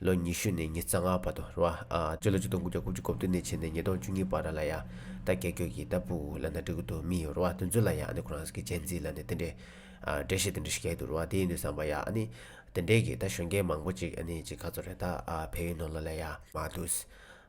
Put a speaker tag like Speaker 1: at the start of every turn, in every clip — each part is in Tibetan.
Speaker 1: ལོ་ཉི་ཤུ་ནས་ཉི་རྩ་ལྔ་བར་དུ་རུ་ཨ། སྤྱི་ལོ་ཆིག་སྟོང་དགུ་བརྒྱ་དགུ་བཅུ་གོ་བདུན་ནས་ཕྱི་ནས་ཉིས་སྟོང་བཅུ་གཉིས་བར་ར་ལ་ཡ། ད་རྒྱལ་སྐྱོད་ཀྱི་རྟ་ཕུག་ལ་ནཱ་ཏྲི་ཀུ་ཏུ་མི་རུ་ཨ་དོན་ཚུལ་ལ་ཡ་ནི་ཁོ་རང་གི་སྤྱན་གཟིགས་ལ་ནི་དེ་འདྲའི། འགྲེལ་བཤད་དེ་འདྲ་ཞིག་བྱས་འདུག་རུ་ཨ་དེའི་ནི་བསམ་པ་ཡ་ནི། དེ་འདྲའི་གི་ད་གཞོན་སྐྱེས་མང་པོ་ཅིག་ནི་ཅིག་ཁ་ཚོར་རེ་ད་ཨ་བལ་ཡུལ་ནོར་ལ་ལ་ཡ། མ་ཏུ།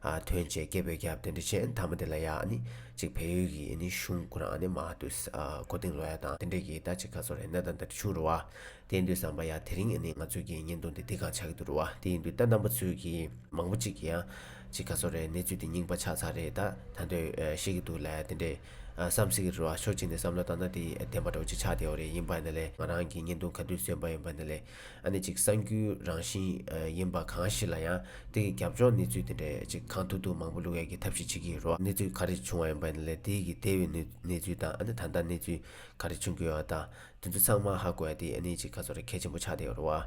Speaker 1: ཨ་དོན་བྱས་སྐྱེས་བོད་རྒྱབ་དེ་འདྲ་ཆེ་མཐའ་མ་དེ་ལ་ཡ་ནི། ཅིག་བལ་ཡུལ་གི་ནི་གཞུང་ཁོ་རང་ནི་མ་ཏུ། ཨ་གོ་དིང་ལོ་ཡ་དང་དེ་འདྲའི་གི་ད་ཅིག་ཁ་ཚོར་རེ་ནཱ་ད་ད་འདྲ་བྱུང་རུ་ཨ། དེ་འདུས་བསམ་པ་ཡ་དེ་རིང་ནི་ང་ཚོས་ཀྱི་བརྙན་ཐུང་འདི་འདི་གང་ཆགས་ཀྱི་འདུག་རེད་བ་དེ་ཡིན་དུས་ལྟ་ནམ་པ་ཚོས་ཀྱི་མང་པོ་གཅིག་གི་ཡ་གཅིག་ག་ཚོད་རེད་གནས་ཚུལ་འདི་རྙིང་པ་ཆགས་ཚར་རེད་ད་ད་འདོད་ཤེས་ཀྱི་འདུག་ལ་དེ་འདྲས་བསམ་གཟིགས་རེད་བ་ཕྱོགས་གཅིག་ནས་བསམ་བློ་བཏང་ན་དེ་བདེན་པ་འགྲོ་གཅིག་ཆགས་བསྡད་བ་རེད་ཡིན་པ་ནི་ལས་ང་རང་གི་བརྙན་ཐུང་ག་དུས་བཟོས་པ་ཡིན་པ་ནི་ལས་ཨ་ནི་གཅིག་གསང་རྒྱུའི་རང་བཞིན་ཡིན་པ་གང་ཞིག་ལ་ཡང་དེ་གི་རྒྱབ་ལྗོངས་གནས་ཚུལ་དེ་འདྲས་གཅིག་གང་ཐུག་ཐུག་མང་པོ་བླུག་ཡ་གི་ཐབས་ཤིག་བྱེད་ཀྱི་རེད་བ་གནས་ཚུལ་ག་རེ་བྱུང་བ་ཡིན་པ་ནི་ལས་དེ་གི་དེ་བས་གནས་ཚུལ་དང་ཨ་ནི་ད་ལྟ་གནས་ཚུལ་ག་རེ་བྱུང་གི་ཡོད་བ་དང། དེ་ཚོ་ཚང་མ་ཧ་གོ་ཡ་དེ་གནས་གཅིག་ག་ཚོར་གལ་ཆེན་པོ་ཆགས་བསྡད་རོ།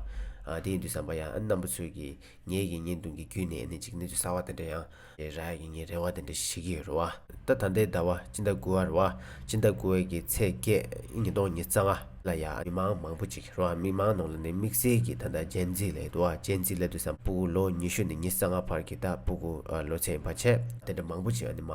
Speaker 1: དེ་ཡིན་དུས་བསམ་པ་ཡ་ཨ་རྣམ་པ་ཚོས་ཀྱི་ངེད་ཀྱི་ཉེས་འདུང་གི་བརྒྱུད་ནས་གནས་གཅིག་གནས་ཚུལ་གསར་བ་དེ་འདྲ་ཡང། རེ་ར་ཡི་ངས་རེ་བ་དེ་འདྲ་ཞིག་བྱེད་ཀྱི་ཡོད་རོ། ད་ད་ལྟའི་ཟླ་བ་སྤྱི་ཟླ་དགུ་བ་རོ། སྤྱི་ཟླ་དགུ་བའི་གི་ཚེས་བརྒྱད་ཉིན་སྟོང་ཉིས་རྩ་ལྔ། ལ་ཡ་མི་མང་མང་པོ་ཅིག་རོ། མི་མང་ནང་ལ་ནི་དམིགས་བསལ་གྱི་ད་ད་སྤྱན་གཟིགས་ལས་དུ་བ་སྤྱན་གཟིགས་ལས་དུ་ས་སྤུ་གུ་ལོ་ཉི་ཤུ་ནས་ཉིས་རྩ་ལྔ་བར་གྱི་ད་སྤུ་གུ་ལོ་ཚད་ཡིན་པ་ཆེ། དེ་འདྲ་མང་པོ་ཅིག་ཨ་ནི་མ་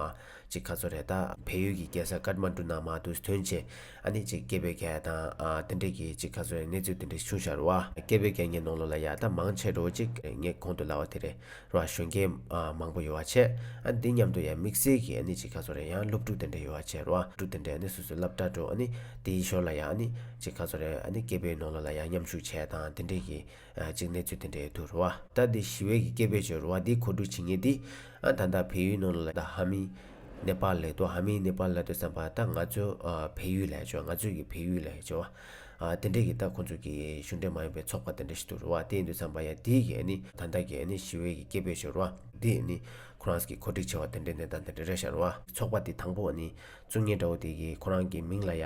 Speaker 1: ཅིག་ག་ཚོ་རེ་ད་བལ་ཡུལ་གྱི་རྒྱལ་ས་ཀར་མ་འབྲུ་ནང་མ་དུས་སྟོན་ཆེ། ཨ་ནི་ཅིག་སྐྱེས་པའི་གས་དང། དེ་འདྲས་ཀྱིས་ཅིག་ཁ་ཚོན་གནས་ཚུལ་དེ་འདྲས་ཤུ་བྱར་རོ། སྐྱེས་པའི་གས་ངས་ནོང་ལོ་ལ་ཡག་ད་མང་ཆེ་འགྲོ་ཅིག་ངས་གོང་དུ་ལ་བ་དེ་རེད་རོ་ཨ་གཞོན་སྐྱེས། མང་པོ་ཡོ་བ་བྱས། ཨ་འདི་མཉམ་དུ་ཡང་དམིགས་བསལ་གྱིས་ཨ་ནི་ཅིག་ཁ་ཚོ་རེ་ཡང་སློབ་ཕྲུག་དེ་འདྲས་ཡོ་བ་བྱས་རོ་ཨ་ཕྲུག་དེ་འདྲས་ཨ་ནི་སུ་སུ་ལབ་དྲ་འགྲོ་ཨ་ནི་དེའི་ཞོར་ལ་ཡང་ཨ་ནི་ཅིག་ཁ་ཚོ་རེ་ཨ་ནི་སྐྱེས་པའི་ནོང་ལོ་ལ་ཡང་མཉམ་ཞུགས་བྱས་དང་དེ་འདྲས་ཀྱིས། ཅིག་གནས་ཚུལ་དེ་འདྲའི་དུ་རུ་བ། ད་དེ་ཞི་བའི་གི་སྐད་པོད་ཆོད་རུ་བ་དེ་ཁོ་དྲུག་བྱེད་ངེས་ཏེ། ཨ་ད་ད་བལ་ཡུལ་ནང་ལ་ད་ཧ་མི། ནེ་པ་ལའི་དུ་ཧ་མི་ནེ་པ་ལའི་དུ་བསམ་པ་ད་ང་ཚོའི་བལ་ཡུལ་ལས་ཆོད་ང་ཚོའི་གི་བལ་ཡུལ་ལས་ཆོད་བ། དེ་འདྲའི་གི་ད་ཁོ་ཚོ་གི་གཞུང་འབྲེལ་མ་ཡིན་པའི་ཚོགས་པ་དེ་འདྲ་ཞིག་དུ་རུ་བ་དེ་ཡིན་དུ་བསམ་པ་ཡ་དེའི་གི་ནི་ད་ད་གི་ནི་ཞི་བའི་གི་སྐད་པོད་ཆོད་རུ་བ། དེ་ནི་ཁོ་རང་གི་གོ་སྒྲིག་བྱས་བ་དེ་འདྲའི་གནས་སྟངས་དེ་འདྲ་རེད་ཤར་བ། ཚོགས་པ་དེ་དང་པོ་ནི་ཚུགས་ངེས་འདྲ་བོ་དེ་གི་ཁོ་རང་གི་མིང་ལ་ཡ།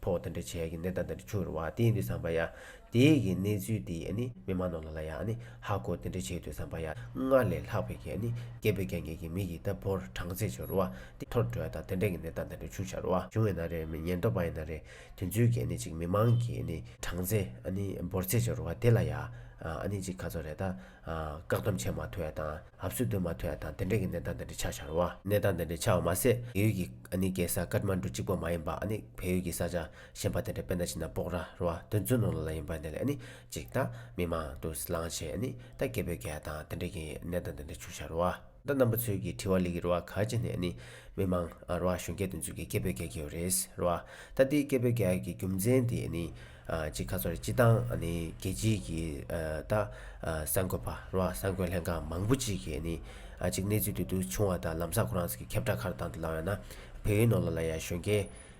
Speaker 1: ཕོག་དེ་འདྲ་བྱས་ཀྱི་ནད་ལྟ་འདི་འདྲ་འཕྱུར་བ་དེ་འདྲ་བསམ་པ་ཡ། དེ་གི་གནས་ཚུལ་དེ་ཡ་ནི་མི་མང་ནང་ལ་ལ་ཡ་ནི་ཧ་གོ་དེ་འདྲ་བྱེད་འདོད་བསམ་པ་ཡ། སྔར་ལས་ལྷག་པའི་གྱ་ནི་རྒྱས་པའི་གྱང་ངེས་ཀྱི་མི་ཡི་ད་བོར་གྲངས་ཚད་འཕྱུར་བ་དེ་ཐོར་བྲོ་ཡ་དང་དེ་འདྲ་གི་ནད་ལྟ་འདི་འདྲ་འཕྱུར་འཆར་བ་བྱུང་བས་ན་རེ་མི་ཉན་འདོད་པ་ཡ་ན་རེ་དེ་ཚུལ་གྱ་ནི་ཅིག་མི་མང་གྱི་ནི་གྲངས་ཚད་ཨ་ནི་བོར་ཚད་འཕྱུར་བ་དེ་ལ་ཡ་ཨ་ནི་ཅིག་ཁ་ཚོར་རེ་ད། བཀག་སྡོམ་བྱས་མ་ཐུབ་པ་དང་ལྷབ་གསོལ་འདོན་མ་ཐུབ་པ་དང་དེ་འབྲེལ་གྱི་གནས་སྟངས་འདི་འདྲ་ཆགས་འཆར་བ། གནས་སྟངས་འདི་འདྲ་ཆགས་བ་མ་ཟད་བལ་ཡུལ་གྱི་ཨ་ནི་རྒྱལ་ས་ཀཱཏ་མཱན་གྲུ་གཅིག་པོ་མ་ཡིན་པ་ཨ་ནི་བལ་ཡུལ་གྱི་ས་ཆ་གཞན་པ་དེ་འདྲ་དཔེར་ན་ཕྱི་ནང་སྤོག་ར་རུ་བ་དོན་བརྫུ་ནོར་ལ་ལ་ཡིན་པ་འདི་ལས་ཨ་ནི་གཅིག་ད་མི་མང་དུ་ལངས་བྱས་ཨ་ནི་ད་སྐད་འབོད་གལ་དང་དེ་འབྲེལ་གྱི་གནས་སྟངས་འདི་འདྲ་འཕྱུར་འཆར་བ། ད་རྣམ་པ་ཚོས་ཀྱི་དྲི་བ་ལི་གི་རུ་བ་ག་ཅི་ནས་ནི་མི་མང་རུ་བ་གཞོན་སྐྱེས་འདི་ཚོས་ཀྱི་སྐད་འབོད་རྒྱག་གི་ཡོད་རེད་ཟེར་རུ་བ་ད་ལྟའི་སྐད་འབོད་རྒྱག་གི་རྒྱུ་མཚན་དེ་ནི་གཅིག་ཁ་ཚོར་རེད་སྤྱི་དང་ནི་རྒྱལ་སྤྱིའི་ཀྱི་ད་གསར་འགོད་པ་རུ་བ་གསར་འགོད་ལྷན་ཁང་མང་པོ་ཅིག་གིས་ནི་གཅིག་གནས་ཚུལ་དུ་དུ་ཆུང་བ་དང་ལམ་སང་ཁོ་རང་ཚོ་ཀྱི་ཁྱབ་བསྒྲགས་ཁར་དང་དུ་ལའང་ན་བོད་ཡིག་ནོར་ལ་ལ་ཡ་གཞོན་སྐྱེས་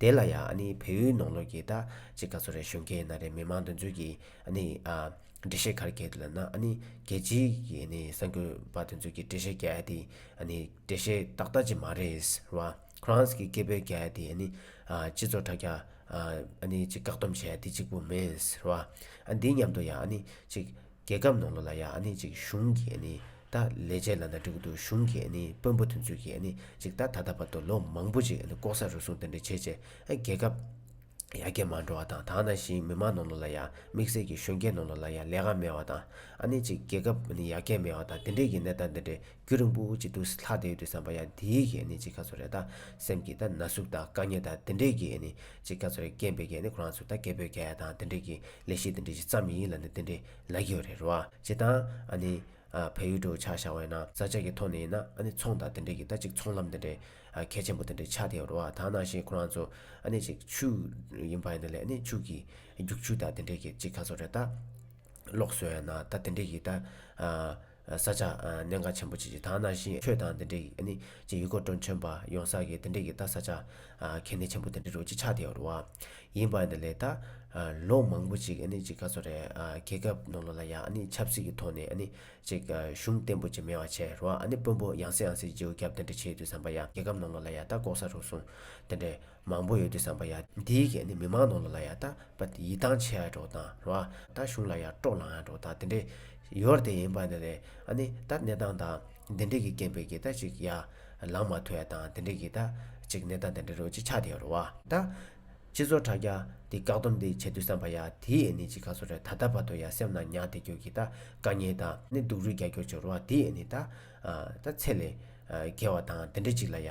Speaker 1: དེ་ལ་ཡང་ནི་བལ་ཡུལ་ནང་ལོགས་ཀྱི་ད་ཅི་ག་ཚོ་རེ་བཞུགས་མཁན་ན་རེ་མི་མང་འདུ་འཛོལ་གྱི་ནི་འགྲེལ་བཤད་གར་གྱིས་ལ་ན་ནི་རྒྱལ་སྤྱིའི་ཀྱི་ནི་གསར་འགོད་པ་འདུ་འཛོལ་གྱི་འགྲེལ་བཤད་རྒྱལ་དེ་ནི་འགྲེལ་བཤད་ཏག་ཏག་ཅིག་མ་རེད་ཟེར་བ Crans གྱི་སྐད་པོད་རྒྱལ་དེ་ནི་སྤྱི་ཚོགས་དྲ་རྒྱ་ནི་ཅིག་བཀག་སྡོམ་བྱས་དེ་གཅིག་པུ་མེད་ཟེར་བ་འདི་མཉམ་དུ་ཡང་ནི་ཅིག་རྒྱལ་ཁབ་ནང་ལོ་ལ་ཡང་ནི་ཅིག་གཞུང་གིས་ནི་ད་ལས་བྱེད་ལ་ན་སྤྲུལ་སྐུ་གཞུང་གིས་ནི་དཔོན་པོ་དེ་ཚོས་ཀྱིས་ནི་ཅིག་ད་ད་ལྟ་བར་དུ་ལོ་མང་པོ་ཅིག་ལྐོག་ཟ་རུལ་སུངས་དེ་འདྲ་བྱས་རྗེས་རྒྱལ་ཁབ་ཡར་རྒྱས་མ་འགྲོ་བ་དང་དང་ན་ཞིང་མི་མང་ནང་ལོ་ལ་ཡང་དམིགས་བསལ་གྱིས་གཞོན་སྐྱེས་ནང་ལོ་ལ་ཡང་ལས་ཀ་མེད་བ་དང་ཨ་ནི་ཅིག་རྒྱལ་ཁབ་ནི་ཡར་རྒྱས་མེད་བ་དང་དེ་འདྲས་ཀྱི་གནས་སྟངས་དེ་འདྲས་རྒྱུ་རིང་པོ་ཅིག་འདུག་ལྷག་དེའི་དུས་བསམ་པ་ཡང་དེའི་གིས་ནི་ཅིག་ཁ་ཚོར་རེ་ད་སེམས་ཀྱི་ད་ན་ཟུག་དང་དཀའ་ཉེ་དང་དེ་འདྲས་ཀྱིས་ནི་ཅེས་སྐྱ་ཚོ་རེ་སྐྱེས་འབུལ་རྒྱལ་ནི་ཁོ་རང་ཚོ་ད་སྐྱེས་འབུལ་རྒྱལ་དང་དེ་འདྲས་ཀྱི་ལས་ཤིག་དེ་འདྲས་ཅིག་བརྩམས་ཡིན་ལ་ནི་དེ་འདྲས་ལ་གི་ཡོད་རེད་རོ་ཨ་ཅེ་ད་ཨ་ནི། ཨ་བལ་ཡུལ་གྲུ་ཆགས་བཞག་བས་ན་བཟའ་བཅའ་གི་ཐོག་ནས་ཡིན་ན་ཨ་ནི་ཚོང་དང་དེ་འདྲས་ཀྱི་ད་ཅིག་ཚོང་ལམ་དེ་འདྲས་ཨ་གལ་ཆེན་པོ་དེ་འདྲས་ཆགས་བསྡད་ཡོད་རོ་ཨ་ད་ནང་བཞིན་ཁོ་རང་ཚོ་ཨ་ནི་ཅིག་ཆུ་ཡིན་པ་ཡིན་ད་ལས་ཨ་ནི་ཕྱུགས་ཀྱི་རྒྱུག་ཆུ་དང་དེ་འདྲས་ཀྱི་ཅིག་ག་ཚོ་རེ་ད་ལོག་སོན་ན་ད་དེ་འདྲས་ཀྱི་ད་ཨ། ས་ཆ། གནད་འགག་ཆེན་པོ་ཆེ་ཆེ་དག་ན་ཞིང་ཆོས་དང་འདི་འདྲའི་ནི། ཅེས་ཡུལ་སྐོར་དྲུང་ཆེན་པ་ཡོང་ས་ཀྱི་འདི་འདྲའི་གི་ད་ས་ཆ། གལ་གནད་ཆེན་པོ་འདི་འདྲའི་རུ་གཅིག་ཆགས་བསྡད་ཡོད་རུ་བ། ཡིན་པ་འདི་ལས་ད། ལོ་མང་པོ་ཅིག་ནི་ཅིག་ག་ཚོད་རེད་རྒྱལ་ཁབ་ནང་ལོ་ལ་ཡ་ནི་ཆབ་སྲིད་ཀྱི་ཐོག་ནས་ནི། ཅིག་གཞུང་བརྟན་པོ་ཅིག་མེད་བ་ཆེ་རུ་བ་ནི་དཔོན་པོ་ཡང་སྲིད་ཡང་སྲིད་རྗེའུ་རྒྱབ་འདི་འདྲ་བྱེད་དུས་བསམ་པ་ཡ་རྒྱལ་ཁབ་ནང་ལོ་ལ་ཡ་ད་ལྐོག་ས་རུ་སོང། འདི་འདྲའི། མང་པོ་ཡོད་དེ་བསམ་པ་ཡ། འདིའི་སྐད་ནི་མི་མང་ནང་ལ་ལ་ཡ་ད་པ་དེ་ཡིད་ཐང་ཆད་འགྲོ་དང་ར་ད་གཞུང་ལ་ཡ་སྤྲོ་ལང་འགྲོ་དང་དེ་འདྲའི། ཡོར་དེ་ཡིན་པ་ནི་རེད་ཨ་ནི་ད་གནས་སྟངས་དང་དེ་འདྲའི་གི་རྐྱེན་པས་གི་ད་ཅིག་ཡ། ལང་མ་ཐོས་དང་དེ་འདྲའི་གི་ད་ཅིག་གནས་སྟངས་དེ་འདྲ་རུ་ཅིག་ཆགས་དེ་ཡོར་བ། ད། སྤྱི་ཚོགས་དྲ་རྒྱ་དེ་བཀག་སྡོམ་དེ་བྱས་དུས་བསམ་པ་ཡ་དེའི་ཨེ་ནི་ཅིག་ག་ཚོད་རེད་ད་ད་པ་དོ་ཡ་སེམས་ན་ཉག་དེ་གྱོ་གི་ད་དཀའ་ངལ་དང་ནི་སྡུག་རུས་རྒྱ་ཁྱོ་ཆོ་ར་དེའི་ཨེ་ནི་ད། ད་ཚད་ལས། བརྒལ་བ་དང་དེ་འདྲ་ཅིག་ལ་ཡ།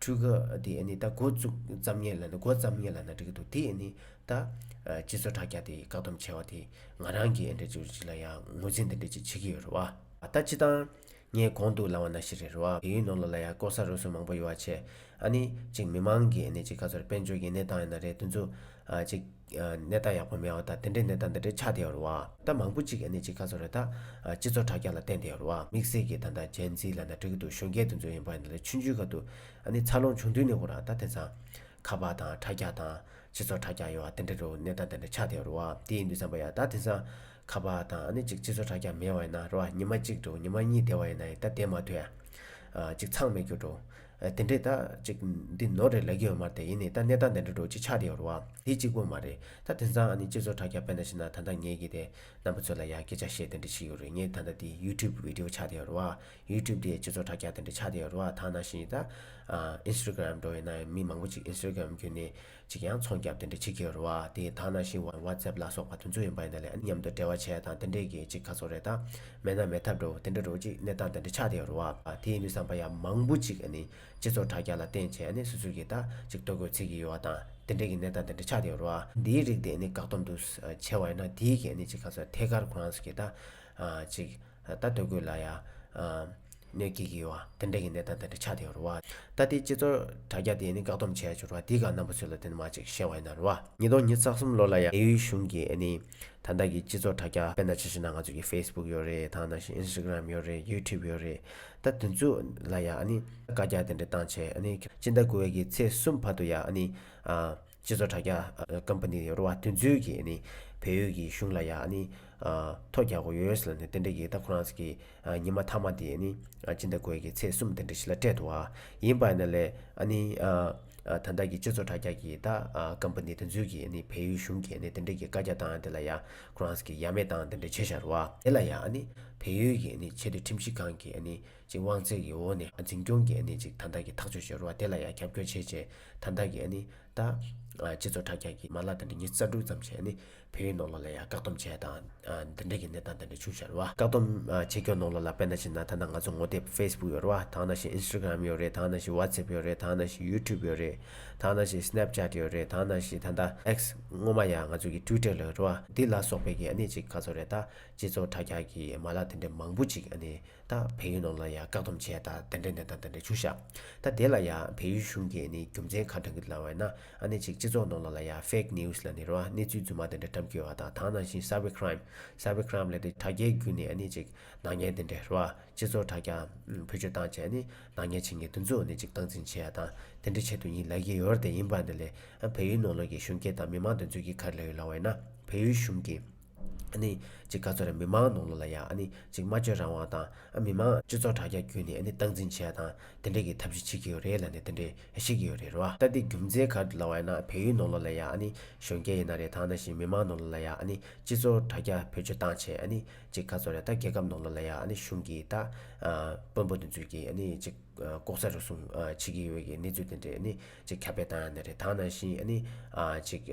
Speaker 1: འཕྲུལ་ག་དེ་ནི་ད་འགོ་བཙུགས་ཙམ་ཉེ་ལ་འགོ་བརྩམས་ཉེ་ལ་ན་འགྲིག་གི་འདུག་དེ་ནི་ད། སྤྱི་ཚོགས་དྲ་རྒྱ་དེ་བཀག་སྡོམ་བྱས་བ་དེས་ང་རང་གི་འདྲེ་ཅུ་ཅིག་ལ་ཡང་ངོས་འཛིན་དེ་འདྲ་ཅིག་བྱེད་ཀྱི་ཡོད་རེད་བ། ད་སྤྱི་བཏང། ངས་གོང་དུ་ལང་བ་ན་ཞིག་རེད་རེད་བ་བལ་ཡུལ་ནང་ལོགས་ལ་ཡང་ལྐོག་ཟ་རུལ་སུངས་མང་པོ་ཡོད་བ་ཆེ། ཨ་ནི་ཅིག་མི་མང་གི་ནི་ཅིག་ཁ་ཚོར་དཔལ་འབྱོར་གྱི་གནས་སྟངས་ཡིན་ན་རེད་དུ་འཛུགས། ཅིག། ནད་རྟགས་ཡག་པོ་མེད་བ་དང་དེ་འདྲའི་ནད་རྟགས་འདི་འདྲའི་ཆགས་བསྡད་ཡོད་རེད། རྟགས་མང་པོ་ཅིག་གནས་ཅི་ག་སོགས་རེད། སྤྱི་ཚོགས་དྲ་རྒྱ་ལ་བརྟེན་བསྡད་ཡོད་རེད། དམིགས་བསལ་གྱི་ད་ལྟ་ཇན་ཛི་ལ་ནད་དྲག་གི་འདུག་གཞོན་སྐྱེས་དེ་ཚོ་ཡིན་པ་འདི་ལ་ཆུ་འཇུས་ཁ་འདུག་འཚར་ལོངས་བྱུང་དུས་ནས་གོ་རང་ད་དེ་ཚང། ཁ་པར་དང་དྲ་རྒྱ་དང། སྤྱི་ཚོགས་དྲ་རྒྱ་ཡོད་དེ་འདྲ་རེད་ནད་རྟགས་འདི་འདྲ་ཆགས་བསྡད་ཡོད་རེད། དེ་ཡིན་དུས་བསམ་པ་ཡ་ད་དེ་ཚང། ཁ་པར་དང་ནི་ཅིག་སྤྱི་ཚོགས་དྲ་རྒྱ་མེད་བ་ཡིན་ན་རེད་ཉི་མ་གཅིག་འགྲོ་ཉི་མ་གཉིས་བསྡད་བ་ཡིན་ན་ཡ་ད་དེ་མ་ཐོས། ཅིག་ཚང་མེད་གྱུར་འགྲོ། དེ་འདྲས་ད། ཅིག། འདི་ནོར་རེད་ལས་ཀྱི་ཡོད་མ་རེད་ཡིན་ནའི་ད་གནས་སྟངས་དེ་འདྲས་འགྲོ་ཅིག་ཆགས་དེ་ཡོད་རོ། དེ་གཅིག་པོ་མ་རེད། ད་དེ་མཚང་ཨ་ནི་སྤྱི་ཚོགས་དྲ་རྒྱ་བེད་ན་ཕྱིན་ན་ད་ལྟ་ངེད་ཀྱི་དེ། རྣམ་པ་ཚོས་ལ་ཡ་སྐད་ཆ་བཤད་དེ་འདྲས་ཆིག་ཡོད་རེད་ངེད་ད་ལྟ་དེ YouTube བེད་ཏེའོ་ཆགས་དེ་ཡོད་རོ། YouTube དེ་སྤྱི་ཚོགས་དྲ་རྒྱ་དེ་འདྲས་ཆགས་དེ་ཡོད་རོ་ཐང་ན་ཤིན་ཡིན་ད། Instagram འགྲོ་ཡིན་ན་མི་མང་པོ་ཅིག Instagram བརྒྱུད་ནས། ཅིག་ཡང་ཚོང་རྒྱབ་དེ་འདྲ་ཅིག་གི་རུ་བ་དེ་དག་ནང་བཞིན་བར་བར་ཙེབ་ལ་སོགས་པ་དུ་འཛུལ་ཡོང་པ་ཡིན་ད་ལེ་ཨ་ནི་མཉམ་དུ་འབྲེལ་བ་བྱས་དང་དེ་འདྲས་ཀྱི་ཅིག་ཁ་ཚོར་རེད་ད། མེད་ན་མེད་ཐབས་འགྲོ་དེ་འདྲ་རུ་ཅིག་གནས་སྟངས་དེ་འདྲ་ཆགས་དེ་རུ་བ་དེ་ཡིན་དུས་བསམ་པ་ཡ་མང་པོ་ཅིག་ཨ་ནི་སྤྱི་ཚོགས་དྲ་རྒྱ་ལ་བརྟེན་བྱས་ཨ་ནི་སུ་སུ་གིས་ད་ཅིག་ལྟོ་གོས་ཚིག་གི་ཡོད་བ་དང་དེ་འདྲས་ཀྱི་གནས་སྟངས་དེ་འདྲ་ཆགས་དེ་རུ་བ། འདིའི་རིགས་དེ་ཨ་ནི་བཀག་སྡོམ་དུ་བྱས་བ་ཡིན་ན་དེའི་གིས་ཨ་ནི་ཅིག་ཁ་ཚོར་ཐད་ཀར་ཁོ་རང་སུ་གིས་ད། ཅིག་ད་ལྟོ་གོས་ལ་ཡ། ནད་ཀྱིས་གྱིས་བ། དེ་འདྲ་ཡི་ནད་དང་དེ་འདྲ་ཆགས་དེ་རུ་བ། ད་དེ་སྤྱི་ཚོར་དྲ་རྒྱ་དེ་ནི་བཀག་སྡོམ་བྱས་ཆོག་ར་དེའི་ག་ནམ་པོ་ཚུལ་ལ་དེ་ནི་མ་ཅིག་བཤད་བ་ཡི་ན་རུ་བ། ཉིས་སྟོང་ཉིས་བརྩ་གསུམ་ལོ་ལ་ཡ་ཨེ་ཡུལ་གཞུང་གི་ཨེ་ནི། ད་ལྟ་གི་སྤྱི་ཚོར་དྲ་རྒྱ་དཔེར་ན་ཇི་བཞིན་ན་ང་ཚོ་གི་ཧྥེ་སྦུག་ཡོད་རེད་དང་ན་བཞིན་ཨིན་སི་གྲམ་ཡོད་རེད་ཡུ་ཐུབ་ཡོད་རེད། ད་དེ་ཚོ་ལ་ཡ་ཨེ་ནི། བཀའ་རྒྱ་དེ་འདྲ་བཏང་བྱས་ཨེ་ནི། སྤྱི་ཟླ་དགུ་བའི་གི་ཚེས་གསུམ་བར་དུ་ཡ་ཨེ་ནི། སྤྱི་ཚོགས་དྲ་རྒྱ Company རུ་བ་དོན་འཛུལ་གྱིས་ནི་བལ་ཡུལ་གྱི་གཞུང་ལ་ཡང་ནི་ཐོ་རྒྱག་གོ US ལ་ནི་རྟེན་འབྲེལ་གྱི་ད་ཁོ་རང་ཚོ་གི་ཉི་མ་མཐའ་མ་དེ་ནི་སྤྱི་ཟླ་དགོས་ཀྱི་ཚེས་གསུམ་རྟེན་འབྲེལ་ཞིག་ལ་སྤྲད་འདུག་བ་ཡིན་པ་ན་ལས་ནི་ད་ལྟ་གི་སྤྱི་ཚོགས་དྲ་རྒྱ་གི་ད Company དོན་འཛུལ་གྱིས་ནི་བལ་ཡུལ་གཞུང་གིས་ནི་རྟེན་འབྲེལ་གྱི་བཀའ་རྒྱ་དང་དེ་ལ་ཡང་ཁོ་རང་ཚོ་གི་ཡ་མེད་དང་རྟེན་འབྲེལ་བྱེད་བཞག་རུ་བ། དེ་ལ་ཡང་ནི་བལ་ཡུལ་གྱི་ནི་ཆེད་དུ་ཁྲིམས་ཞིབ་ཁང་གིས་ནི་ཅིག་དབང་ཚད་ཀྱི་འོག་ནས་འཛིན་སྐྱོང་གིས་ནི་ཅིག་ད་ལྟ་གི་ཐག་གཅོད་བྱེད་རུ་བ་དེ་ལ་ཡང་རྒྱབ་སྐྱོར་བྱེད་ཅེས་ད་ལྟ་གིས་ནི་ད། སྤྱི་ཚོགས་དྲ་རྒྱ་གིས་མ་ལག་དེ་འདྲ་ཉིས་རྩ་དྲུག་ཙམ་བྱས་ནས་བོད་ཡིག་ནང་ལོགས་ལ་ཡང་བཀག་སྡོམ་བྱས་དང། འདི་འདྲ་གི་གནས་སྟངས་དེ་འདྲ་བྱུང་ཤར་བ། བཀག་སྡོམ་བྱེད་སྐྱོང་ནང་ལོགས་ལ་དཔེ་ན་བྱིན་ན་ད་ལྟ་ང་ཚོ་ངོ་དེབ Facebook ཡོད་རེད་བ་དང་ན་བཞིན Instagram ཡོད་རེད་དང་ན་བཞིན WhatsApp ཡོད་རེད་དང་ན་བཞིན YouTube ཡོད་རེད་དང་ན་བཞིན Snapchat ཡོད་རེད་དང་ན་བཞིན་ད་ལྟ X སྔོན་མ་ཡང་ང་ཚོ་གི Twitter ལོས་རེད་བ་འདི་ལ་སོགས་པའི་གི་ནི་ཅིག་ག་ཚོད་རེད་ད་སྤྱི་ཚོགས་དྲ་རྒྱ་གི་མ་ལག་དེ་འདྲ་མང་པོ་ཅིག་ནི། དང་བལ་ཡུལ་ནང་ལ་ཡང་བཀག་སྡོམ་བྱས་ད་དེ་འདྲས་འདྲས་དང་དེ་འདྲས་བྱུག་ཤག་ད་དེ་ལ་ཡང་བལ་ཡུལ་གཞུང་གིས་ནི་རྒྱུ་མཚན་ག་དྲང་གི་ལ་བས་ན་ཨ་ནེ་ཅིག་སྤྱི་ཚོགས་ནང་ལ་ལ་ཡང fake news ལ་ནི་རོ་ཨ་གནས་ཚུལ་རྫུན་མ་དེ་འདྲས་བཀྲམ་ཁྱོད་བ་དང་དང་ནང་བཞིན cyber crime Cyber Crime ལས་དེ་དྲ་རྒྱའི་རྒྱུ་ནི་ཨ་ནེ་ཅིག་ནག་ཉེས་དེ་འདྲས་རོ་ཨ་སྤྱི་ཚོགས་དྲ་རྒྱ་བོད་ཆོས་དང་བཅས་ནི་ནག་ཉེས་བྱེད་ངེས་དུ་འཛུགས་ནི་ཅིག་སྟངས་འཛིན་བྱས་དང་དེ་འདྲས་བྱེད་དུ་ཡིན་ལ་ཡི་ཡོར་དེ་ཡིན་པ་འདི་ལས་ཨ་བལ་ཡུལ་ནང་ལོག་གི་གཞོན་སྐྱེས་དང་མི་མང་དུ་འཛུལ་གྱི་ག་རེ་ལ་ཡོད་ལ་བས་ན་བལ་ཡུལ་གཞུང་གིས། ནི། གཅིག་ག་ཚོད་རེར་མི་མང་ནང་ལོགས་ལ་ཡང་ནི། གཅིག་སྨྲ་བརྗོད་རང་དབང་དང། མི་མང། སྤྱི་ཚོགས་དྲ་རྒྱ་བརྒྱུད་ནས་ནི་སྟངས་འཛིན་བྱས་དང། དེ་འདྲས་ཀྱི་ཐབས་ཤིག་བྱེད་ཀྱི་ཡོད་རེད་ལ་ནི་དེ་འདྲས་ཤེས་ཀྱི་ཡོད་རེད་རོ། ལྟ་དེ་རྒྱུ་མཚན་ག་ལ་བ་ཡིན་ན་བལ་ཡུལ་ནང་ལོགས་ལ་ཡང་ནི། གཞོན་སྐྱེས་ཡིན་ན་རེད་ཐང་ན་བཞིན་མི་མང་ནང་ལོགས་ལ་ཡང་ནི། སྤྱི་ཚོགས་དྲ་རྒྱ་བེད་སྤྱོད་སྟངས་བྱས་ནི། གཅིག་ག་ཚོད་རེ་ད་རྒྱལ་ཁབ་ནང་ལོགས་ལ་ཡང་ནི་གཞུང་གིས་ད། དཔོན་པོ་འདི་ཚོས་ཀྱིས་ནི་གཅིག། ལྐོག་ཟ་རུལ་སུངས་བྱེད་ཀྱི་ཡོད་ཀྱི་གནས་ཚུལ་དེ་འདྲས་ནི། གཅིག་ཁ་བེད་བཏང་ཡང་ནི་རེད་ཐང་ན་བཞིན་ནི། གཅིག།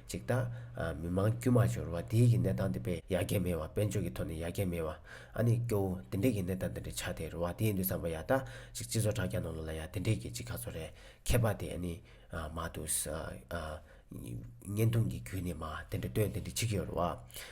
Speaker 1: ཅིག་དང། མི་མང་དཀྱུས་མ་འབྱོར་བ་དེའི་གི་གནས་སྟངས་དེ་པས་ཡར་རྒྱས་མེད་བ་དཔལ་འབྱོར་གི་ཐོག་ནས་ཡར་རྒྱས་མེད་བ། ཨ་ནི་སྐྱོ་བོ་དེ་འདྲས་གི་གནས་སྟངས་དེ་འདྲས་ཆགས་ཏེ་རོ་བ་དེའི་འདུས་ཚངས་པ་ཡག་ད་ཅིག་སྤྱི་ཚོགས་དྲ་རྒྱ་ནང་ལོ་ལ་ཡག་དེ་འདྲས་གི་ཅིག་ཁ་ཚོ་རེད་ཁད་པ་དེ་ཨ་ནི། མ་ཏུ་ས། བརྙན་ཐུང་གི་བརྒྱུད་ནས་མ་དེ་འདྲས་སྟོན་དེ་འདྲས་ཅིག་ཡོད་རོ་བ།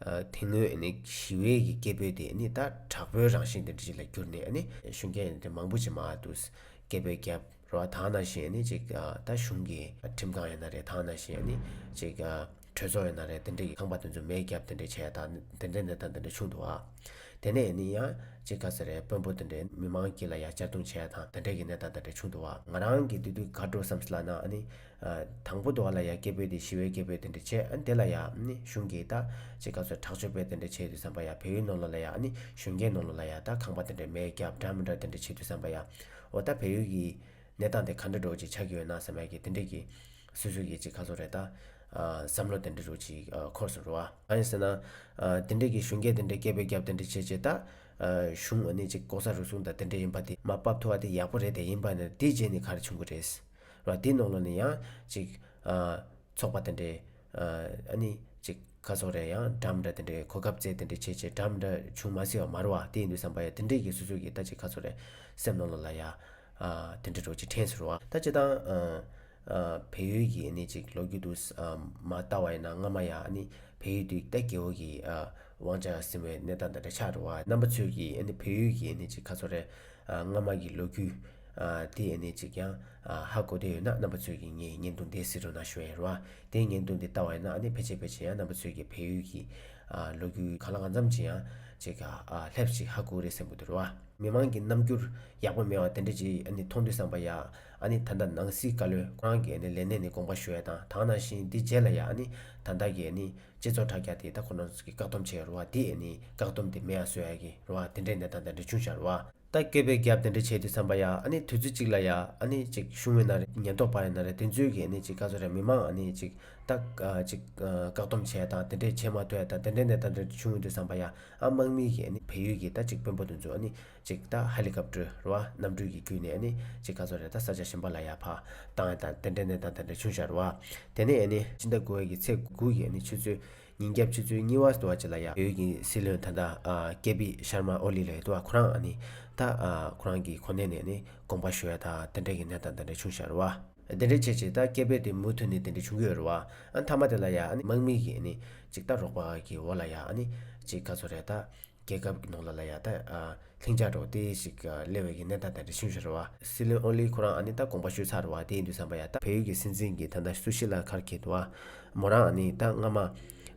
Speaker 1: དེ་སྔོན་ནི་ཞི་བའི་ཡི་གེ་བོད་དེ་ནི་ད་དྲག་པོའི་རང་བཞིན་དུ་འབྲི་ལ་གྱུར་ནས་ནི་གཞུང་གི་དེ་མང་པོ་ཅིག་མ་དུ་སྐད་བོད་རྒྱ་རོ་ཨ་དང་ན་བཞིན་ནི་ཅིག་ད་གཞུང་གི་ཁྲིམས་ཁང་ཡང་ན་རེ་དང་ན་བཞིན་ནི་ཅིག་གྲོས་ཚོགས་ཡང་ན་རེ་དེ་འདྲ་ཡི་ཁང་པ་དེ་ཚོ་མེད་རྒྱབ་དེ་འདྲ་བྱས་དང་དེ་འདྲ་འདི་དང་དེ་འདྲ་ཆུང་དུ་ཨ། དེ་ནས་ནི་ཡང་ཅིག་ག་ས་རེ་དཔོན་པོ་དེ་འདྲས་མི་མང་གི་ལ་ཡ་གཅར་རྡུང་བྱས་དང་དེ་འདྲ་གི་ནི་དང་དེ་འདྲ་ཆུང་དུ་ཨ། ང་རང་གི་དེ་དུས་ག་འགྲོ་བསམ་སླ་ན་ནི། དང་པོ་དུ་བ་ལ་ཡང་སྐྱེས་བུ་དེས་ཤི་བའི་སྐྱེས་བུས་དེ་འདྲ་བྱས་ཨ་ནི་དེ་ལ་ཡང་ནི་གཞུང་གིས་ད་ཅི་ག་ཚོད་དྲག་སྤྱོད་པས་དེ་འདྲ་བྱེད་དུ་བསམ་པ་ཡང་བེའུའི་ནོར་ལོ་ལ་ཡང་ཨ་ནི་གཞོན་སྐྱེས་ནོར་ལོ་ལ་ཡང་ད་ཁང་པ་དེ་འདྲ་མེད་སྐྱབས་འགྲམ་མི་འདྲ་དེ་འདྲ་བྱེད་དུ་བསམ་པ་ཡང་འོ་ད་བེའུ་ཡི་གནས་སྟངས་དེ་ག་འདྲ་འགྲོ་ཅིག་ཆ་གི་འོད་སྣང་ཟེར་མ་ཡི་གི་དེ་འདྲས་ཀྱི་སུས་སུ་ཡི་ཅིག་ག་ཚོད་རེད་ད་བསམ་བློ་དེ་འདྲས་རུ་ཅིག་འཁོར་སུ་འགྲོ་ཨ། གང་ཡིན་ཟེར་ན། དེ་འདྲས་ཀྱི་གཞོན་སྐྱེས་དེ་འདྲས་སྐྱེས་བུས་སྐྱབས་དེ་འདྲ་བྱེད་ཅེས་ད། གཞུང་ཨ་ནི་ཅིག་ལྐོག་ཟ་རུལ་སུངས་དང་དེ་འདྲས་ཡིན་པ་དེ་མ་བབ་ཐུ་བ་དེ་ཡག་པོ་རེད་དེ་ཡིན་པ་ནི་དེའི་རྗེས་ནི་ག་རེ་བྱུང་གི་རེད། རོ། དེའི་ནང་ལོགས་ནས་ཡང། ཅིག། ཚོགས་པ་དེ་འདྲས། ཨ་ནི། ཅིག། ཁ་ཚོགས་རེ་ཡང་གྲམ་འདྲ་དེ་འདྲས་གོ་སྐབས་བཙལ་དེ་འདྲས་བྱས་བྱས་གྲམ་འདྲ་བྱུང་མ་སྲིད་བ་མར་བ་དེ་ཡིན་དུས་བསམ་པ་ཡ་དེ་འདྲས་ཀྱི་སུ་སུ་གི་ད་ཅིག་ཁ་ཚོགས་རེ། སེམས་ནང་ལོགས་ལ་ཡ། དེ་འདྲས་འགྲོ་ཅིག་ཕྲན་ཟེར་བ། ད་སྤྱི་དང། བལ་ཡུལ་གྱི་ཨ་ནི་ཅིག་ལོགས་རྒྱུད་དུ། མ་ལྟ་བ་ཡིན་ན་སྔ་མ་ཡ་ཨ་ནི། བལ་ཡུལ་དུས་ད་གེ་བོ་གི། དབང་ཆ་ཟིན་བའི་གནས་སྟངས་དེ་འདྲ་ཆགས་འགྲོ་བ་རྣམ་པ་ཚོས་ཀྱི་ཨ་ནི་བལ་ཡུལ་གྱི་ཨ་ནི་ཅིག་ཁ་ཚོགས་རེ། སྔ་མ་གི་ལོ་རྒྱུས། དེ་ཡེ་ནས་ཅིག་ཀྱང། ཧ་གོ་བསྡད་ཡོད་ན་རྣམ་པ་ཚོས་ཀྱིས་ངའི་སྙན་ཐུང་དེ་སི་རུ་ན་ཤོད་ཡ་རུ་ཨ། དེའི་སྙན་ཐུང་དེ་བལྟ་བ་ཡིན་ན་ནི་ཕལ་ཆེར་ཕལ་ཆེར་ཡང་རྣམ་པ་ཚོས་ཀྱིས་བལ་ཡུལ་གྱི། ལོ་རྒྱུས་ག་ལ་གང་འཚམས་ཅི་ཡང། ཅིག། ལྷེབ་ཅིག་ཧ་གོ་རེད་སེམས་གོ་དེ་རུ་ཨ། མི་མང་གི་རྣམ་འགྱུར། ཡག་པོ་མེད་བ་དེ་འདྲ་ཅིག་ཨ་ནི་མཐོང་དུས་བསམ་པ་ཡ། ཨ་ནི་ད་ལྟ་ནང་སྲིད་བཀའ་བློན་ཁོ་རང་གི་ཨ་ནི་ལས་གནས་ནས་དགོངས་པ་ཞུ་ཡ་དང་དག་ནང་བཞིན་འདི་བརྗེད་ལ་ཡ་ཨ་ནི་ད་ལྟ་གི་ཨ་ནི། སྤྱི་ཚོགས་དྲ་རྒྱ་དེ་ད་ཁོ་རང་ཚོ་གིས་བཀག་སྡོམ་བྱས་ཡ་རུ་ཨ་དེ་ཨ་ནི་བཀག་སྡོམ་དེ་མེད་ཡ་བཟོ་ཡ་གི་རུ་ཨ་དེ་འདྲའི་གནས་སྟངས་དང་འདྲ་ཆུང་བྱ་རུ་ཨ། ད་སྐད་པའི་རྒྱབ་དེ་འདྲ་བྱས་ཏེ་བསམ་པ་ཡ་ཨ་ནི་དུས་ཚོད་གཅིག་ལ་ཡ་ཨ་ནི་ཅིག་བྱུང་བས་ན་རེ་ཉེན་རྟོག་པ་རེ་ན་རེ་དེ་ཚོས་ཀྱིས་ཨ་ནི་ཅིག་ཁ་ཚོ་རེ་མི་མང་ཨ་ནི་ཅིག་ད་ཅིག་བཀག་སྡོམ་བྱས་དང་དེ་འདྲས་བྱས་མ་ཐོས་ད་དེ་འདྲས་ནས་ད་འདྲ་འདྲ་བྱུང་འདུག་བསམ་པ་ཡ་ཨ་དམག་མིའི་ཀྱིས་ཨ་ནི་བལ་ཡུལ་གྱི་ད་ཅིག་དཔོན་པོ་དེ་ཚོས་ཨ་ནི་ཅིག་ད་ཧ་ལི་ཀབ་ཀྲོའི་ར་བ་གནམ་གྲུའི་ཀྱི་བརྒྱུད་ནས་ཨ་ནི་ཅིག་ཁ་ཚོ་རེ་ད་ས་ཆ་གཞན་པ་ལ་ཡ་ཕ་དང་ད་དེ་འདྲས་ནས་ད་དེ་འདྲ་བྱུང་ཤ་ར་བ་དེ་ནས་ཨ་ནི་ཅིག་ཟླ་དགུ་བའི་ཀྱི་ཚེས་དགུ་ཀྱི་ཨ་ནི་ཆུ་ཚོད་ཉིན་རྒྱབ་ཆུ་ཚོད་གཉིས་བར་དུ་བ་ཅི་ལ་ཡ། བོད་ཀྱི་སྲིད་བློན་ཐ་ན་ཀེ་པི་ཤར་མ་ཨོ་ལི་ལགས་དུ་བ་ཁོ་རང་ནི་ད་ཁོ་རང་གིས་ཁོ་ནའི་ནས་ནི་དགོངས་པ་ཞུ་ཡ་ད་དེ་འདྲ་གི་ནས་ད་དེ་འདྲ་བྱུང་ཤར་བ། དེ་འདྲ་བྱས་བྱས་ད་སྐད་འབོད་དེ་མུ་མཐུད་ནས་དེ་འདྲ་བྱུང་གི་ཡོད་རེད་བ། མཐའ་མ་དེ་ལ་ཡ་ནི་དམག་མི་གིས་ནི་ཅིག་ད་རོགས་པ་གིས་འོ་ལ་ཡ་ནི་ཅིག་ག་ཚོད་རེད་ད། རྒྱལ་ཁབ་ཀྱི་ནང་ལ་ལ་ཡ་ད། ལྷིང་འཇགས་འགྲོ་དེ་ཞིག་གླེང་བའི་གི་གནས་ད་ད་འདྲི་ཤིང་ཤོར་བ། སྲིད་བློན་ཨོ་ལི་ཁོ་རང་ཨ་ནི་ད་དགོངས་པ་ཞུས་ཚར་བ་དེ་ཡིན་འདུག་བསམ་པ་ཡ་ད། བལ་ཡུལ་གྱི་སྲིད་འཛིན་གྱི་ད་ད་སུ་ཞིག་ལ་ཁར་འཁྱེར་འདུག་ཨ། མོ་རང་ཨ་ནི་ད་སྔ་མ།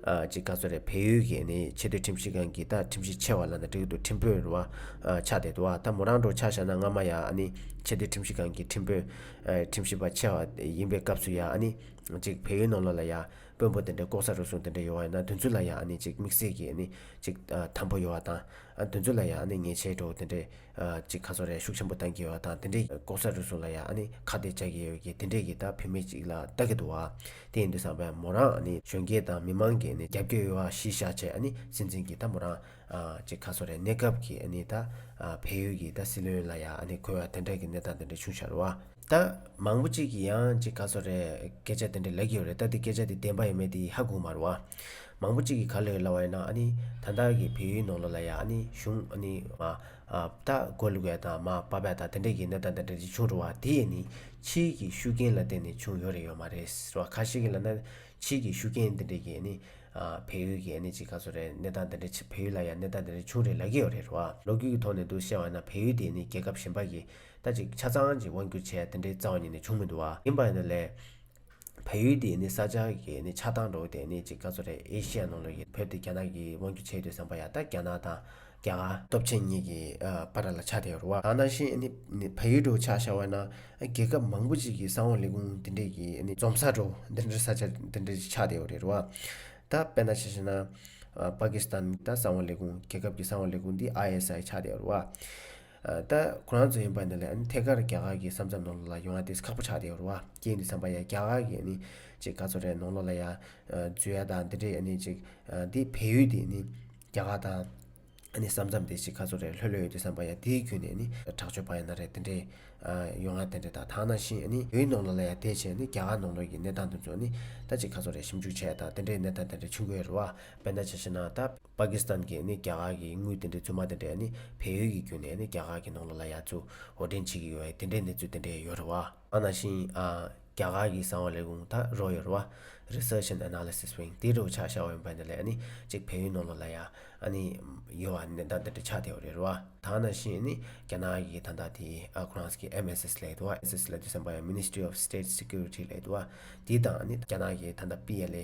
Speaker 1: ཅིག་ག་ཚོད་རེད་བལ་ཡུལ་གྱི་ཨ་ནི་ཆེས་མཐོའི་ཁྲིམས་ཞིབ་ཁང་གི་ད་ཁྲིམས་ཞིབ་ཆེ་བ་ལ་ད་འགྲིག་འདུག་ཁྲིམས་དཔོན་རུ་བ། ཆགས་བསྡད་འདུག་ཨ་ད་མོ་རང་འགྲོ་ཆགས་བཞག་ན་སྔ་མ་ཡ་ཨ་ནི་ཆེས་མཐོའི་ཁྲིམས་ཞིབ་ཁང་གི་ཁྲིམས་དཔོན། ཁྲིམས་ཞིབ་པ་ཆེ་བ་ཡིན་པའི་སྐབས་སུ་ཡ་ཨ་ནི། ཅིག་བལ་ཡུལ་ནང་ལ་ལ་ཡ། དཔོན་པོ་དེ་འདྲ་ལྐོག་ཟ་རུལ་སུངས་དེ་འདྲ་ཡོང་བ་ཡིན་ན་དུས་ཚོད་ལ་ཡ་ཨ་ནི་ཅིག་དམིགས་བསལ་གྱི་ཨ་ནི། ཅིག། དམ་པོ་ཡོང་བ་དང། འདུ་འཛོ་ལ་ཡང་ཨ་ནི་ཉེས་ཆད་འགྲོ་དེ་འདྲས། ཅིག་ཁ་སོ་རས་ཤུགས་ཆེན་པོ་བཏང་གི་ཡོད་བ་དང་དེ་འདྲས། ལྐོག་ཟ་རུལ་སུངས་ལ་ཡང་ཨ་ནི་ཁ་གཏད་བཅག་གི་ཡོད་གི་དེ་འདྲས་ཀྱི་ད་བུད་མེད་ཅིག་ལ་ལྟ་གི་འདུག་བ། དེ་ཡིན་དུས་བསམ་པས་མོ་རང་ཨ་ནི་གཞོན་སྐྱེས་དང་མི་མང་གི་ཨ་ནི་རྒྱབ་སྐྱོད་ཡོད་བ་གཞི་བཞག་བྱས་ཨ་ནི་སྲིད་འཛིན་གྱི་ད་མོ་རང། ཅིག་ཁ་སོ་རས་གནས་སྐབས་ཀྱི་ཨ་ནི་ད། བལ་ཡུལ་གྱི་ད་སྲིད་བློན་ལ་ཡང་ཨ་ནི་གོ་བ་དེ་འདྲས་ཀྱི་གནས་སྟངས་དེ་འདྲས་བྱུང་ཤར་བ། ད། མང་པོ་ཅིག་གིས་ཡང་ཅིག་ག་ཚོད་རེད། སྐད་ཆ་དེ་འདྲ་ལེགས་ཡོད་རེད་ད་འདི་སྐད་ཆ་འདི་བདེན་པ་ཡིན་མེད་འདི་ཧ་གོ་མ་རུང་བ། མང་པོ་ཅིག་གིས་ག་ལ་ཡོད་ལབ་བ་ཡིན་ན་ཨ་ནི་ད་ལྟ་གི་བལ་ཡུལ་ནང་ལོགས་ལ་ཡ་ཨ་ནི་གཞུང་ཨ་ནི། ད་གོ་ལུག་བལ་དང་མ་པ་བལ་དང་དེ་འདྲས་ཀྱི་གནས་སྟངས་དེ་འདྲ་འདི་བྱུང་འགྲོ་བ་དེ་ནི་ཕྱིའི་གི་ཤུགས་རྐྱེན་ལ་བརྟེན་ནས་བྱུང་ཡོད་རེད་ཡོད་མ་རེད་ཟེར་བ་ཁ་ཤེས་ཀྱི་ལབ་ན་ཕྱིའི་གི་ཤུགས་རྐྱེན་དེ་འདྲས་ཀྱི་ཨ་ནི། བལ་ཡུལ་གྱི་ཨ་ནི་ཅིག་ག་ཚོད་རེད་གནས་སྟངས་དེ་འདྲས་ཕྱི་བལ་ཡུལ་ལ་ཡ་གནས་སྟངས་དེ་འདྲས་བྱུང་རེད་ལབ་ཀྱི་ཡོད་རེད་ཟེར་བ་ལོ་རྒྱུས་ཀྱི་ཐོག་ནས་འདུག་བཤད་བ་ཡིན་ན་བལ་ཡུལ་དེ་ནི་རྒྱལ་ཁབ་གཞན་པ་ཀྱི་ད་ཅིག་ཆ་ཚང་གཅིག་དབང་སྒྱུར་བྱས་དེ་འདྲའི་རྩ་བ་ཉིད་ནས་བྱུང་མི་འདུག་བ། ཡིན་པ་ནི་ལས། བལ་ཡུལ་འདི་ནི་ས་ཆ་གི་ནི་ཆགས་སྟངས་འགྲོ་བ་དེ་ནི་ཅིག་ག་ཚོད་རེད་ཨེ་ཤེ་ཡ་ནང་ལོགས་ཀྱི་བོད་འདི་རྒྱ་ནག་གིས་དབང་སྒྱུར་བྱས་ཡོད་བསམ་པ་ཡག་ད་རྒྱ་ནག་དང་རྒྱ་གར། སྟོབས་ཆེན་གཉིས་ཀྱི་བར་ལ་ཆགས་དེ་རུ་བ། གང་ན་ཤེས་ཨེ་ནི་བལ་ཡུལ་འགྲོ་ཆགས་ཤར་བ་ན་རྒྱལ་ཁབ་མང་པོ་ཅིག་གི་ས་འོག་ལས་ཁུང་འདི་འདྲས་ཀྱི་ནི་འཛོམས་ས་འགྲོ་འདི་འདྲའི་ས་ཆ་འདི་འདྲས་ཅིག་ཆགས་དེ་རུ་བ། ད་དཔེར་ན་ཤེས་ཤེ་ན། པ་ཀི་སི་ཐན་ད་ས་འོག་ལས་ཁུང་རྒྱལ་ཁབ་ཀྱི་ས་འོག་ལས་ཁུང་འདི་ཨ་ཡེ་སི་ཨའི་ཆགས་དེ་རུ་བ། ད་ཁོ་རང་ཚོ་ཡིན་པ་འདི་ལ་ཐད་ཀར་རྒྱ་གར་གྱི་བསམ་ཚབ་ནང་ལོགས་ལ་ཡོང་ཡ་དེས་ཁག་པོ་ཆགས་བསྡད་ཡོད་རེད་བ་ཀྱེ་འདི་བསམ་པ་ཡ་རྒྱ་གར་གྱི་ནི་ཅིག་ག་ཚོད་རེད་ནང་ལོགས་ལ་ཡ་འཛུལ་ཡ་དང་འདི་འདྲས་ནི་ཅིག་འདི་བལ་ཡུལ་འདི་ནི་རྒྱ་གར་དང་ནི་བསམ་ཚབ་འདི་ཅིག་ག་ཚོད་རེད་ལྷོད་ལྷོད་ཡོད་དུས་བསམ་པ་ཡ་དེའི་རྒྱུ་ནས་ནི་དྲག་སྤྱོད་པ་ཡ་ན་རེད་འདི་འདྲས་ཡོང་ཡ་དེ་འདྲས་དང་དང་ན་བཞིན་ནི་བལ་ཡུལ་ནང་ལོགས་ལ་ཡ་བསྡད་ཆེད་ནི་རྒྱ་གར་ནང་ལོགས་ཀྱི་གནས་སྟངས་འདི་ཚོ་ནི་ད་ཅིག་ག་ཚོད་རེད་ཞིབ་འཇུག་བྱས་ཡ་དང་འདི་འདྲས་གནས་སྟངས་དེ་འདྲས་བྱུང་དགོས་ཡོད་རེད་བ་དཔེར་ན་ཇི་ཕྱིར་ན་ད། པ་ཀི་སི་ཐན་གྱིས་ནི་རྒྱ་གར་གྱི་དངུལ་དེ་འདྲའི་རྫུན་མ་དེ་འདྲས་ནི་བལ་ཡུལ་གྱི་རྒྱུད་ནས་ནི་རྒྱ་གར་གྱི་ནང་ལོགས་ལ་ཡ་མཚུ་འོ་དྲན་བྱེད་ཀྱི་ཡོད་བས་དེ་འདྲའི་གནས་ཚུལ་དེ་འདྲས་ཡོད་རེད་བ། ཨ་ན་ཤིང་ཨ། རྒྱ་གར་གྱི་གསང་བ་ལས་གུང་ཐ་རོ་ཡོད་རེད་བ། Research and Analysis Wing། དེའི་རོགས་ཆགས་ཤ་བ་ཡོང་པའི་འདི་ལས་ནི་གཅིག་བལ་ཡུལ་ནང་ལོགས་ལ་ཡ། ཨ་ནི། ཡོད་བ་ནི་ད་འདི་འདྲས་ཆགས་དེ་ཡོད་རེད་བ། ད་ཨ་ན་ཤིང་ནི་རྒྱ་ནག་གི་ད་ལྟ་དེ་ཨ་ཁོ་རང་ས་གི་ཨེམ་ཨེས་ཨེས་ལས་དུ་བ་ཨེས་ཨེས་ལས་དུ་སེམས་པ་ཡང Ministry of State Security ལས་དུ་བ། དེའི་དང་ཨ་ནི་རྒྱ་ནག་གི་ད་ལྟ་པི་ཨེ་ལེ།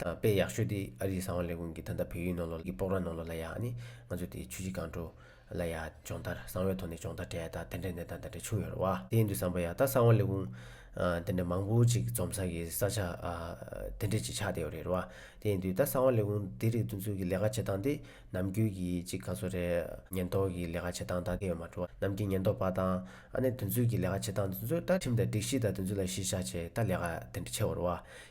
Speaker 1: དང་དཔེ་ཡག་ཤོས་དེ་ཨ་རིའི་གསང་བ་ལས་ཁུངས་ཀྱི་ད་ལྟ་བོད་ཡིག་ནང་ལོག་གི་པོག་ར་ནང་ལོག་ལ་ཡག་ནི་ང་ཚོ་དེ་ཆུ་བྱི་གང་དྲོ་ལ་ཡག་སྦྱོང་བརྡར་གསང་བའི་ཐོག་ནས་སྦྱོང་བརྡར་བྲལ་ད་དེ་འདྲའི་གནས་སྟངས་དེ་འདྲ་བྱུང་ཡོད་རེད་བ་དེ་ཡིན་དུས་བསམ་པ་ཡག་ད་གསང་བ་ལས་ཁུངས་དེ་འདྲ་མང་པོ་ཅིག་འཛོམས་ས་གི་ས་ཆ་དེ་འདྲས་ཅིག་ཆགས་བསྡད་ཡོད་རེད་བ་དེ་ཡིན་དུས་ད་གསང་བ་ལས་ཁུངས་དེ་རིགས་བསྡུ་འཛུགས་ཀྱི་ལས་ཀ་བྱེད་སྟངས་དེ་ནམ་རྒྱུན་གྱི་ཅིག་ག་ཚོད་རེད་ཉེན་རྟོག་གི་ལས་ཀ་བྱེད་སྟངས་ད་དེ་ཡོད་མ་འགྲོ་ནམ་རྒྱུན་ཉེན་རྟོག་པ་དང་ཨ་ནེ་བསྡུ་འཛུགས་ཀྱི་ལས་ཀ་བྱེད་སྟངས་དེ་ཚོ་ད་ཁྲིམས་དང་སྒྲིག་གཞི་དང་དེ་ཚོ་ལ་གཞི་བཞག་བྱས་ད་ལས་ཀ་དེ་འདྲ་ཆེ་བར་བ་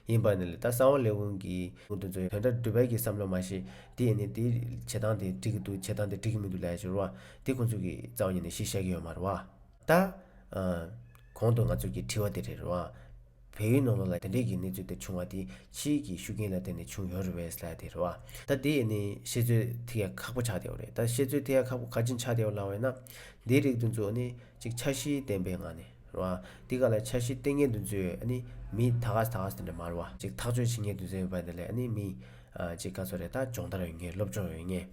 Speaker 1: ཡིན་པ་ནི་ལས་ད་གསང་བ་ལས་དབུང་གི། དབུང་དུ་འཛུལ་ཡང་དོན་དག་འགྲུབ་བས་ཀྱི་བསམ་བློ་མ་ཤེས། དེ་ཡིན་ནི་དེ། བྱེད་སྟངས་དེ་འགྲིག་གི་འདུག་བྱེད་སྟངས་དེ་འགྲིག་གི་མི་འདུག་ལས་སྦྱོར་བ། དེ་ཁོ་ཚོ་གི་རྩ་བ་ཉིད་ནས་ཤེས་ཤེས་ཀྱི་ཡོད་མ་རེད་བ། ད། གོང་དུ་ང་ཚོས་ཀྱི་དྲི་བ་དེ་རེད་བ། བལ་ཡུལ་ནང་ལོགས་ལ་དེ་འདྲས་ཀྱི་གནས་ཚུལ་དེ་བྱུང་བ་དེ་ཕྱིའི་གྱི་ཤུགས་རྐྱེན་ལ་བརྟེན་ནས་བྱུང་ཡོད་རེད་བས་ལ་དེ་རེད་བ། ད་དེ་ཡིན་ནི་བཤད་ཚོད་དེ་ཡང་ཁག་པོ་ཆགས་བསྡད་བ་རེད་ད་བཤད་ཚོད་དེ་ཡང་ཁག་པོ་ག་ཅིག་ཆགས་བསྡད་བ་ལ་བས་ན། དེའི་རིགས་དུ་འཛུགས་ནི་གཅིག་ཆ་གཞི་ལྡན་པའི་ངང་ནས། ར་བ། འདི་ག་ལ་འཆར་གཞི་སྟེང་ངེས་དོན་མཛོད། མི། ད་ག་ཟེ་ད་ག་ཟེ་འདྲ་འདྲ་མར་བ། ཅིག་ཐག་གཅོད་བྱེད་ངེས་དོན་ཟེར་ཡོད་པ་འདི་ལས་ནི་མི། ཅིག་ག་ཚོད་རེ་ད་སྦྱོང་བརྡར་ཡོད་ངེས་སློབ་སྦྱོང་ཡོད་ངེས།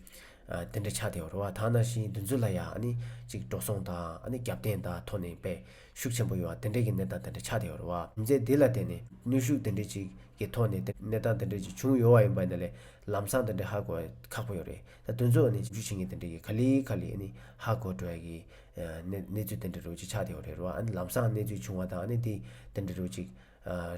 Speaker 1: འདི་འདྲ་ཆགས་དེའོ་ར་བ་ད་ན་བཞིན་དོན་མཛོད་ལ་ཡ། ཅིག་འགྲོ་སོང་དང། རྒྱབ་རྟེན་དང་ཐོག་ནས་པས་ཤུགས་ཆེན་པོ་ཡོད་དེ་འདྲ་གི་གནས་སྟངས་འདི་འདྲ་ཆགས་དེའོ་ར་བ། མཛད་འདི་ལ་བརྟེན་ནས་ནུས་ཤུགས་དེ་འདྲ་ཅིག་གི་ཐོག་ནས་གནས་སྟངས་དེ་འདྲ་ཅིག་བྱུང་ཡོད་བ་ཡིན་པ་འདི་ལས་ལམ་སང་དེ་འདྲ་ཧ་གོ་ཁག་པོ་ཡོད་རེད། ད་དུང་གཙོ་བོ་ནི་འཇུ་བྱེད་ངེས་དེ་འདྲ་གི་ག་ལི་ག་ལི་ནི་ཧ་གོ་འགྲོ་བ་གི་གནས་ཚུལ་དེ་འདྲ་རེ་བ་ཅིག་ཆགས་ཏེ་ཡོང་རེ་རོ་ཨ་ནི་ལམ་སང་གནས་ཚུལ་བྱུང་བ་དང་ནི་དེ་དེ་འདྲ་རེ་བ་ཅིག་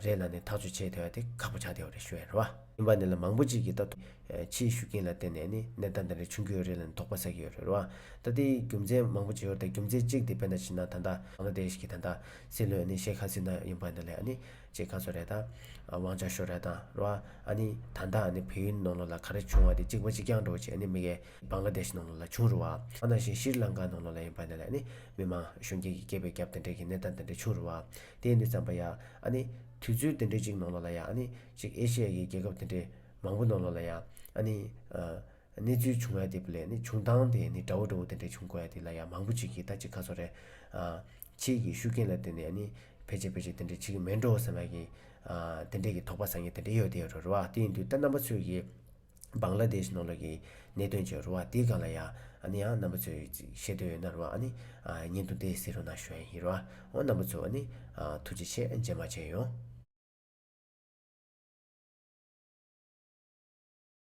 Speaker 1: རེ་ལ་ནི་ཐག་གཅོད་བྱེད་ཐེ་བ་དེ་ཁག་པོ་ཆགས་ཏེ་ཡོང་རེ་ཞུ་ཡ་རེ་བ། ཡིན་པ་ནི་ལ་མང་པོ་ཅིག་གི་ད་དུང་ཕྱིའི་ཤུགས་རྐྱེན་ལ་བརྟེན་ནས་ནི་གནས་སྟངས་དེ་འདྲ་བྱུང་གི་ཡོད་རེ་ལ་ནི་དོགས་པ་ཟ་གི་ཡོད་རེ་རོ་ཨ་ད་དེའི་རྒྱུ་མཚན་མང་པོ་ཅིག་ཡོད་ད་རྒྱུ་མཚན་གཅིག་དེ་བེ་ན་ཕྱི་ནང་ད་ལྟ་བང་ལ་དེ་ཤི་གི་ད་ལྟ་སྲིད་བློན་ནི་ཤེ་ཁ་སི་ན་ཡིན་པ་འདི་ལས་ཨ་ནི་ཅེས་ཁ་སོ་རས་དང། དབང་ཆ་ཤོ་རས་དང་རོ་ཨ། ཨ་ནི། ད་ལྟ་ཨ་ནི་བོད་ཡུལ་ནང་ལོགས་ལ་ག་རེ་བྱུང་བ་དེ་གཅིག་པ་གཅིག་རྐྱང་འགྲོ་བྱེད་ཨ་ནི་མི་གེ། བང་ལ་དེཤ་ནང་ལོགས་ལ་བྱུང་རུ་བ། ཨ་ན་ཤི་ཤིར་ལང་ཀ་ནང་ལོགས་ལ་ཡིན་པ་འདི་ལ་ཨ་ནི། མི་མང། གཞོན་སྐྱེས་ཀྱི་སྐྱེས་པའི་རྒྱབ་དེ་འདྲས་ཀྱི་གནས་སྟངས་འདི་འདྲས་བྱུང་རུ་བ། དེའི་འདི་ཙམ་པ་ཡ། ཨ་ནི། དུས་ཚོད་འདི་འདྲས་གཅིག་ནང་ལོགས་ལ་ཡ་ཨ་ནི། གཅིག་ཨེ་ཤི་ཡ་ཡི་རྒྱལ་ཁབ་འདི་འདྲས། མང་པོ་ནང་ལོགས་ལ་ཡ། ཨ་ནི། གནས་ཚུལ་བྱུང་ཡ་དེ་པོ་ལས་ནི་བྱུང་སྟངས་དེ་ནི་འདྲ་བོ་འདྲ་བོ་འདི་འདྲས་བྱུང་དགོས་ཡ་དེ་ལ་ཡ་མང་པོ་གཅིག་གིས་ད་ཅིག་ཁ་སོ་རས། ཁྱེད་ཀྱི་ཤུགས་རྐྱེན་ལ་བརྟེན་ནས་ཡ་ནི། ཕལ་ཆེར་ཕལ་ཆེར་དེ་འདྲའི་ཕྱི་གི་མེད་འགྲོ་བསམ་ཡ་གི། དེ་འདྲས་ཀྱི་དོགས་པ་ཟ་ངེས་དེ་འདྲས་ཡོད་དེ་ཡོད་རེད་རེད་བ། དེ་ཡིན་དུས་ད་རྣམ་པ་ཚོས་ཀྱི། སྦང་ལ་དེ་ཞིག་ནོར་ལུགས་ཀྱི། གནད་དོན་བྱོས་རེད་བ་དེ་ག་ལ་ཡ། ཨ་ནི་ཡང་རྣམ་པ་ཚོས་ཅིག་ཤེས་འདོད་ཡོད་ན་རེད་བ་ཨ་ནི། ཉིན་དུ་དེ་ཟེར་རུ་ན་ཞོན་ཡིན་རེད་བ། འོ་རྣམ་པ་ཚོས་ཨ་ནི། ཐུགས་རྗེ་ཆེ་རྗེས་མ་བྱས་ཡོང།